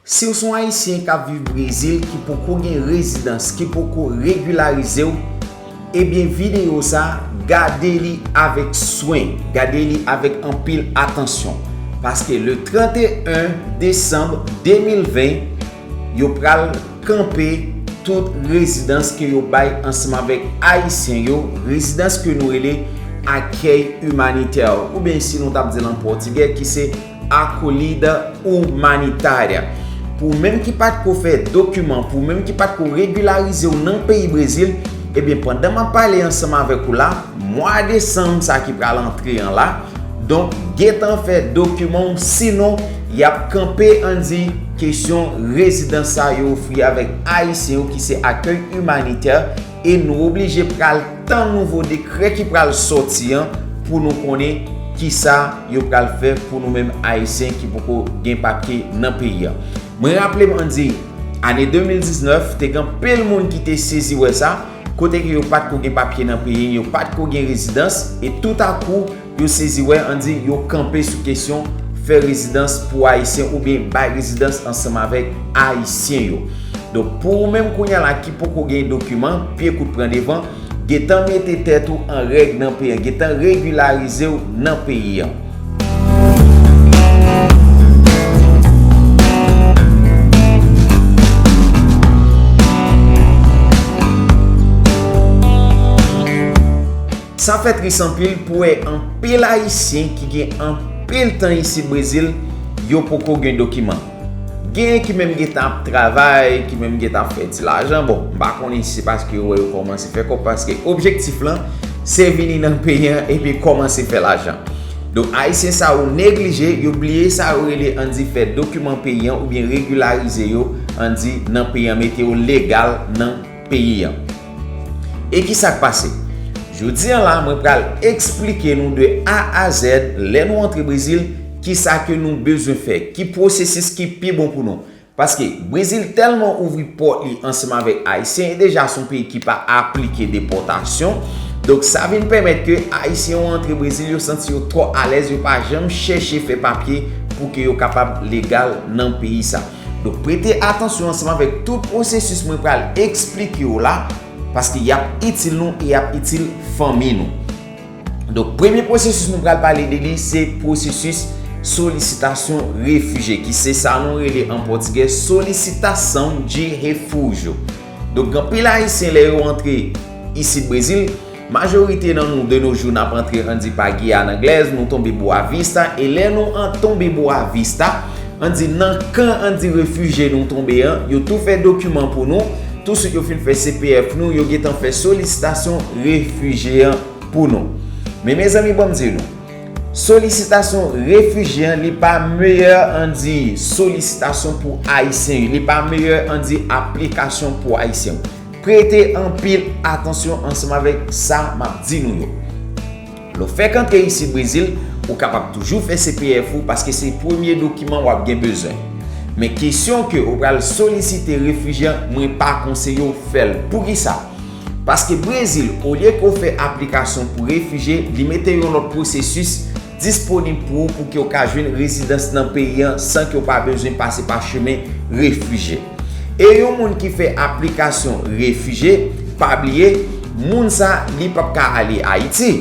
Si w se yon Ayisyen k ap viv Brezil ki poko gen rezidans, ki poko regilarize w, ebyen videyo sa, gade li avèk swen, gade li avèk anpil atansyon. Paske le 31 desanm 2020, yo pral kanpe tout rezidans ke yo bay ansanm avèk Ayisyen yo, rezidans ke nou rele Accueil Humanitaire, oubyen si nou t ap di l an pòtigè ki se, acolhida humanitária pou ou menm ki pat ko fè dokiman pou ou menm ki pat ko regularize ou nan peyi Brezil ebyen eh pandan map pale ansanm avèk ou la mwa desanm sa ki pral antre an la donk gentan fè dokiman ou sinon yap kanpe an di kesyon rezidans sa yo ofri avèk ayisyen yo ki se accueil humanitaire e nou oblije pral tann nouvo dekrè ki pral sòti an pou nou konnen kisa yo pral fè pou nou menm Ayisyen ki poko gen papye nan peyi an. Mwen raple m an di, ane 2019, te gen anpil moun ki te sezi wè sa, kote ke yo pat ko gen papye nan peyi, yo pat ko gen rezidans, e toutakou, Yo sezi wè an di yo kanpe sou kesyon fè rezidans pou Ayisyen oubyen bay rezidans ansanm avèk Ayisyen yo. Donk pou ou menm kounya la ki poko gen dokiman, pye kout pran devan, gentan mete tèt ou an règ nan peyi an, gentan regilarize w nan peyi an. Sa fè tris anpil pou wè anpil ayisyen ki gen anpil tan isit Brezil, yo poko gen dokiman. Genyen ki menm gentan ap travay, ki menm gentan ap fè ti lajan, bon m pa konnen si se paske yo wè yo kòmanse fè kòb paske objektif lan se vini nan peyi an epi kòmanse fè lajan. Donk ayisyen sa yo neglije, yo bliye sa yo rele an di fè dokiman peyi an oubyen regilarize yo an di nan peyi an mete yo legal nan peyi an. E ki sa k pase? Jodi an la mwen pral eksplike nou de A a Z lè nou antre Brezil ki sa ke nou bezwen fè, ki pwosesis ki pi bon pou nou. Paske Brezil tèlman ouvri pòt li ansanm avèk Ayisyen e deja son peyi ki pa aplike depòtasyon, donk sa vin pèmèt ke Ayisyen yo antre Brezil yo santi yo twò alèz yo pa janm chèche fè papye pou ke yo kapab legal nan peyi sa. Donk prete atansyon ansanm avèk tout pwosesis mwen pral eksplike w la, paske y ap itil nou e y ap itil fanmi nou. Donk premye pwosesis nou pral pale de li se pwosesis solisitasyon refije ki se sa nou rele an pòtigè solicitação de refúgio. Donk gen anpil ayisyen lè yo antre isit Brezil, Majorite nan nou de no jou nap antre anndi pa Guyane anglaise nou tonbe Boa Vista e lè nou an tonbe Boa Vista anndi nan kan anndi refugee nou tonbe an yo tou fè dokiman pou nou tou swit yo fin fè CPF nou yo gentan fè solisitasyon refugee an pou nou men mezanmi banm di nou solisitasyon refugee an li pa meyè anndi solisitasyon pou ayisyen li pa meyè anndi aplikasyon pou ayisyen. Prete anpil atansyon ansanm avèk sa m ap di nou yo. Lè w fèk antre isit Brezil, ou kapab toujou fè CPF ou paske se premye dokiman w ap gen bezwen. Men kesyon ke ou pral solisite refijye an mwen pa konseye w fè l. Poukisa? Paske Brezil olye ke w fè aplikasyon pou refijye li mete yon lòt pwosesis disponib pou ou pouki ou ka jwenn rezidans nan peyi an san ke ou pa bezwen pase pa chemen refije. E yon moun ki fè aplikasyon refije, pa bliye, moun sa li pap ka ale Ayiti.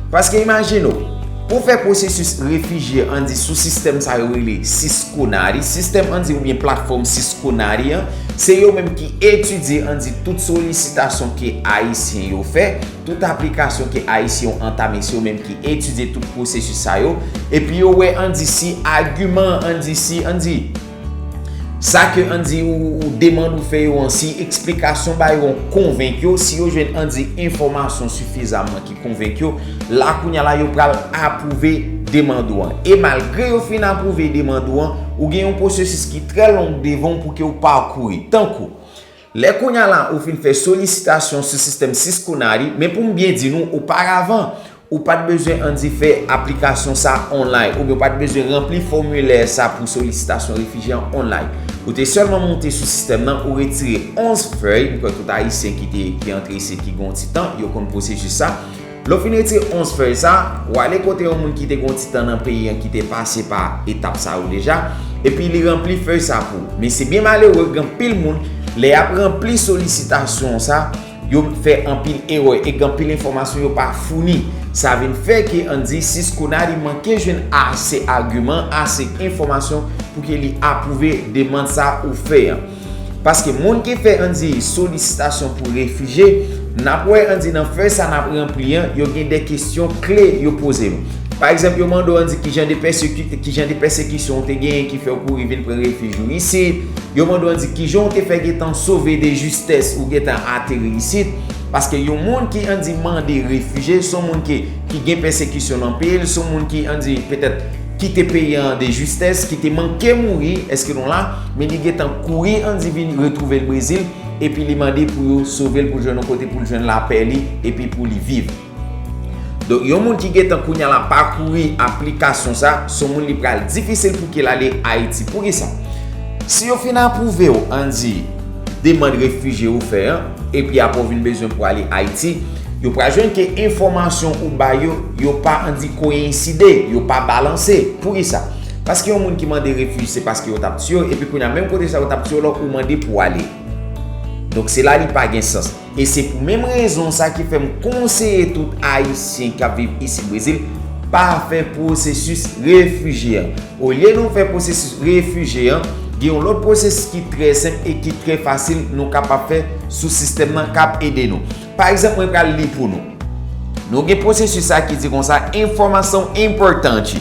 Paske imajine ou, pou fè pwosesis refije an di sou sistèm sa yo rele Cisconari, sistèm an di oubyen platfòm Cisconari an, se yo menm ki etidye an di tout solisitasyon ke Ayisyen yo fè, Tout aplikasyon ke Ayisyen yo antame se yo menm ki etidye tout pwosesis sa yo epi yo wè an di si agiman an di si an di sa ke an di ou demann ou fè yo an si eksplikasyon ba yo an konvenk yo si yo jwenn an di enfòmasyon sifizamman ki konvenk yo la kounya la yo pral apwouve demand ou an e malgre yo fin apwouve demand ou an ou gen yon pwosesis ki trè long devan ou pou ke ou pakouri tankou Lè kounya la ou fin fè solisitasyon sou sistèm Cisco Nari, men pou m byen di nou oparavan, ou pa t bezwen anndi fè aplikasyon sa a onlay, oubyen ou pa t bezwen ranpli fòmilè sa pou solisitasyon refijye an onlay. Ou te sèlman moute sou sistèm nan, ou retire 11 fèy, m kwè tout Ayisyen ki te, ki antre isit ki gen yon ti tan, yo konn pwosesis sa. Lè w fin retire 11 fèy sa, w ale kote yon moun ki te gen yon ti tan nan peyi an ki te pase pa etap sa yo deja, epi li ranpli fèy sa pou ou. Men se byen malere gen anpil moun, lè y ap ranpli solisitasyon sa, yo fè anpil erè e gen anpil enfòmasyon yo pa founi. Sa vin fè ke an di Ciscona li manke jwenn ase agiman, ase enfòmasyon pou ke li apwouve demand sa ou fè an. Paske moun ki fè andy solisitasyon pou refije nap wè andy nan fè sa nap ranpli an yo gen de kesyon kle yo poze nou pa egzanp yo mande w andy kijan de pèsekit kijan de pèsekisyon ou te genyen ki fèw kouri vin pran refij ou isit yo mande w andy kijan ou te fè gentan sove de jistès ou gentan ateri isit paske yon moun ki andy mande refije son moun ki ki gen pèsekisyon nan peyi l son moun ki andy petèt kite peyi an de jistès ki te manke mouri eske nou la Men li gentan kouri Andy vin retrouve l Brezil epi li mande pou yo sove l pou l jwenn yon kote pou l jwenn lapè li epi pou li viv. Donk yon moun ki gentan kounya la pakouri aplikasyon sa, se yon moun li pral difisil pou ki l ale Ayiti. Poukisa? Si yo fin apwouve w Andy demand refije ou fè an epi aprè ou vin bezwen pou ale Ayiti, yo pral jwenn ke enfòmasyon ou bay yo, yo pa Andy koyenside, yo pa balanse. Poukisa? Paske yon moun ki mande refuj se paske yo tap tiyew epi kounya menm kote sa yo tap tiyew la ou mande pou ale donk se la li pa gen sans e se pou menm rezon sa ki fèm konseye tout ayisyen kap viv isit brezil pa fè pwosesis refije an olye nou fè pwosesis refije an gen yon lòt pwosesis ki trè senp e ki trè fasil nou kapab fè sou sistèm nan kap ede nou pa egzanp mwen pral li pou nou nou gen pwosesis sa ki di konsa enfòmasyon enpòtan ki.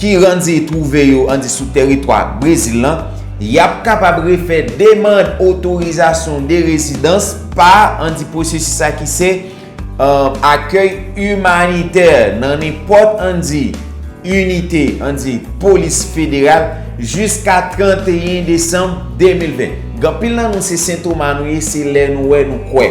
ki randi twouve yo andi sou teritwa Brezil lan, y ap kapab refè demand otorizasyon de rezidans pa andi pwosesis sa ki se akèy imanitè nan nenpòt andi inite andi polis federal jiska 31 desanm 2020. Gen anpil nan nou se Sen Toma nou ye, se lè nou wè nou kwè.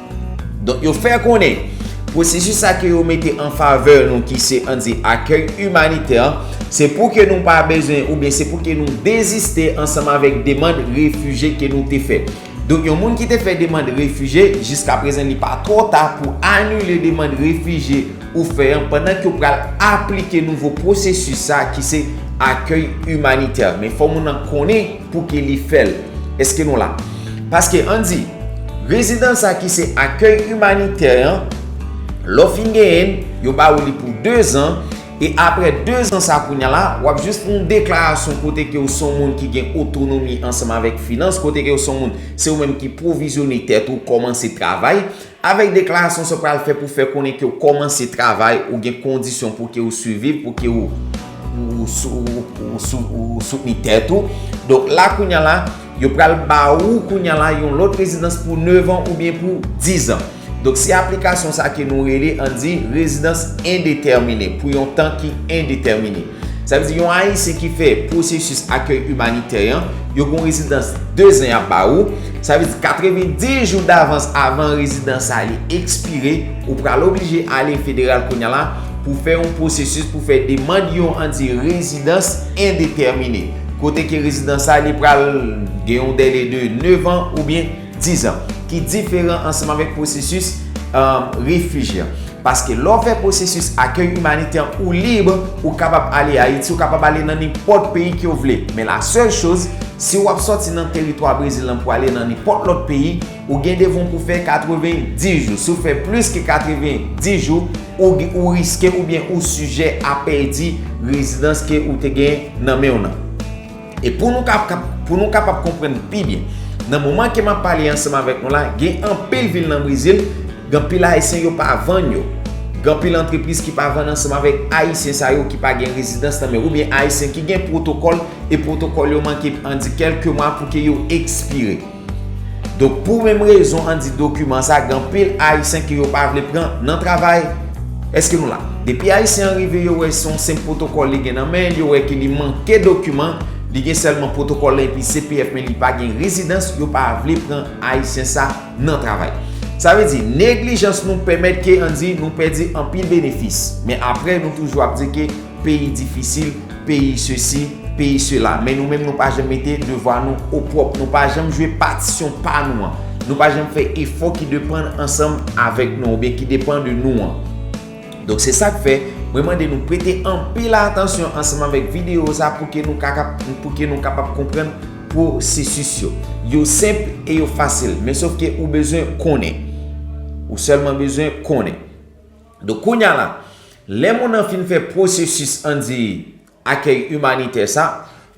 Donk yo fè konnen, pwosesis sa ke yo mete an favè nou ki se an di akèy imanitè an, se pou ke nou pa bezwen oubyen se pou ke nou deziste ansanm avèk demand refije ke nou te fè. Donk yon moun ki te fè demand refije, jiskaprezan li pa twò ta pou anile demand refije ou fè an pandan ke ou pral aplike nouvo pwosesis sa ki se akèy imanitè. Men fò moun nan konnen. Pouki li fè l? Eske nou la? Paske an di, rezidans sa ki se akèy imanitè an, lè w fin genyen l, yo ba ou li pou 2 zan, e aprè 2 zan sa kounye a la, w ap jis pou yon deklarasyon kote ke w se yon moun ki gen otonomi ansanm avèk finans, kote ke w se yon moun, se ou menm ki pwovizyone tèt ou, kòmanse travay. Avèk deklarasyon sa w pral fè pou fè konnen ke w kòmanse travay, ou gen kondisyon pou ke ou siviv, pou ke ou soutni tèt ou. Donk la kounye a la, yo pral ba ou kounye a la yon lòt rezidans pou 9 an oubyen pou 10 an. Donk se aplikasyon sa ke nou rele, an di, rezidans endetèmine, pou yon tan ki endetèmine. Sa vle di yon Ayisyen ki fè pwosesis akèy imanitè an, yo gen yon rezidans 2 zan y ap ba ou. Sa vle di 90 jou davans avan rezidans sa li ekspire, ou pral oblije ale federal kounya la pou fè yon pwosesis pou fè demand yon an di rezidans endetèmine. Kote ke rezidans sa li pral gen yon dèle de 9 an oubyen. 10 an, ki diferan ansanm avèk pwosesis refij la. Paske lè w fè pwosesis akèy imanitè an, ou lib, ou kapab ale Ayiti, ou kapab ale nan nenpòt peyi ke w vle. Men la sèl choz, si w ap sòti nan teritwa Brezil lan pou ale nan nenpòt lòt peyi, ou gen devon pou fè 90 jou. Si w fè plis ke 90 jou, ou riske oubyen ou sijè a pèdi rezidans ke ou te gen nan men w lan. E pou nou ka pou nou kapab konprann pi byen, nan moman ke map pale ansanm avèk nou la, gen anpil vil nan Brezil, gen anpil Ayisyen yo pa vann yo. Gen anpil antrepriz ki pa vann ansanm avèk Ayisyen sa yo ki pa gen rezidans nan men yo, oubyen Ayisyen ki gen pwotokòl, e pwotokòl yo manke an di kèlke mwa pou ke yo ekspire. Donk pou menm rezon an di dokiman sa gen anpil ayisyen ke yo pa vle pran nan travay. Eske nou la? Depi ayisyen an rive yo wè se yon senp pwotokòl li gen nan men, yo wè ke li manke dokiman, li gen sèlman pwotokòl la epi CPF men li pa gen rezidans, yo pa vle pran ayisyen sa nan travay. Sa vle di neglijans nou pèmèt ke an di nou pèdi anpil benefis. Men apre nou toujou ap di ke. Peyi difisil, peyi sesi, peyi sela. Men nou menm nou pa janm mete devwa nou opwòp. Nou pa janm jwe patisyon pa nou an. Nou pa janm fè efò ki depann ansanm avèk nou an oubyen ki depann de nou an. Donk se sa k fè, mwen mande nou prete anpil atansyon ansanm avèk videyo sa pou ke nou kapab konprann pwosesis yo. Yo senp e yo fasil. Men sof ke ou bezwen konnen. Ou sèlman bezwen konnen. Donk kounya la, lè moun nan fin fè pwosesis an di akèy imanitè sa,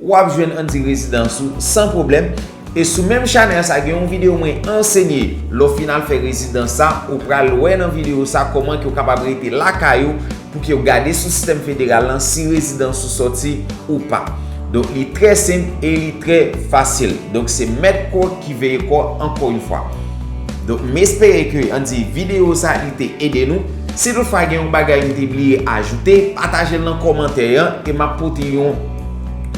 ou ap jwenn an di rezidans ou san pwoblèm, e sou menm chanèl sa gen yon videyo mwen ansenye lè w fin al fè rezidans sa, ou pral wè nan videyo sa kòman ke w kapab rete lakay ou pou ke w gade sou sistèm federal lan si rezidans ou sòti ou pa. Donk li trè senp e li trè fasil. Donk se mèt kò ki veye kò ankò yon fwa. Donk m espere ke an di video sa li te ede nou. Si tout fwa gen yon bagay m te bliye ajoute, pataje l nan kòmantè an e m ap pote yon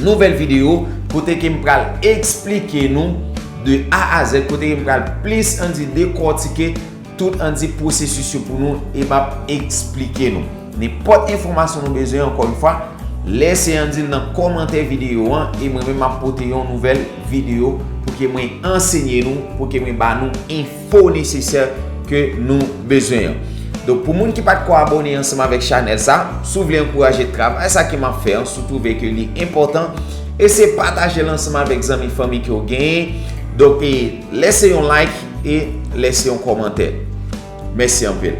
nouvèl video kote ke m pral eksplike nou de A a Z, kote ke m pral plis an di dekòtike tout an di pwosesis yo pou nou e m ap eksplike nou. Nenpòt enfòmasyon nou bezwen ankò yon fwa, lèse an di l nan kòmantè videyo an e mwen menm map pote yon nouvèl videyo pou ke mwen ansenye nou, pou ke mwen ba nou enfo nesesè ke nou bezwen yo. Donk pou moun ki pat ko abone ansanm avèk chanèl sa, si w vle ankouraje travay sa ke map fè an, si w twouve ke li enpòtan, eseye pataje l ansanm avèk zanmi fanmi ke w genyen, donk e lèse yon like e lèse yon kòmantè. Mèsi anpil.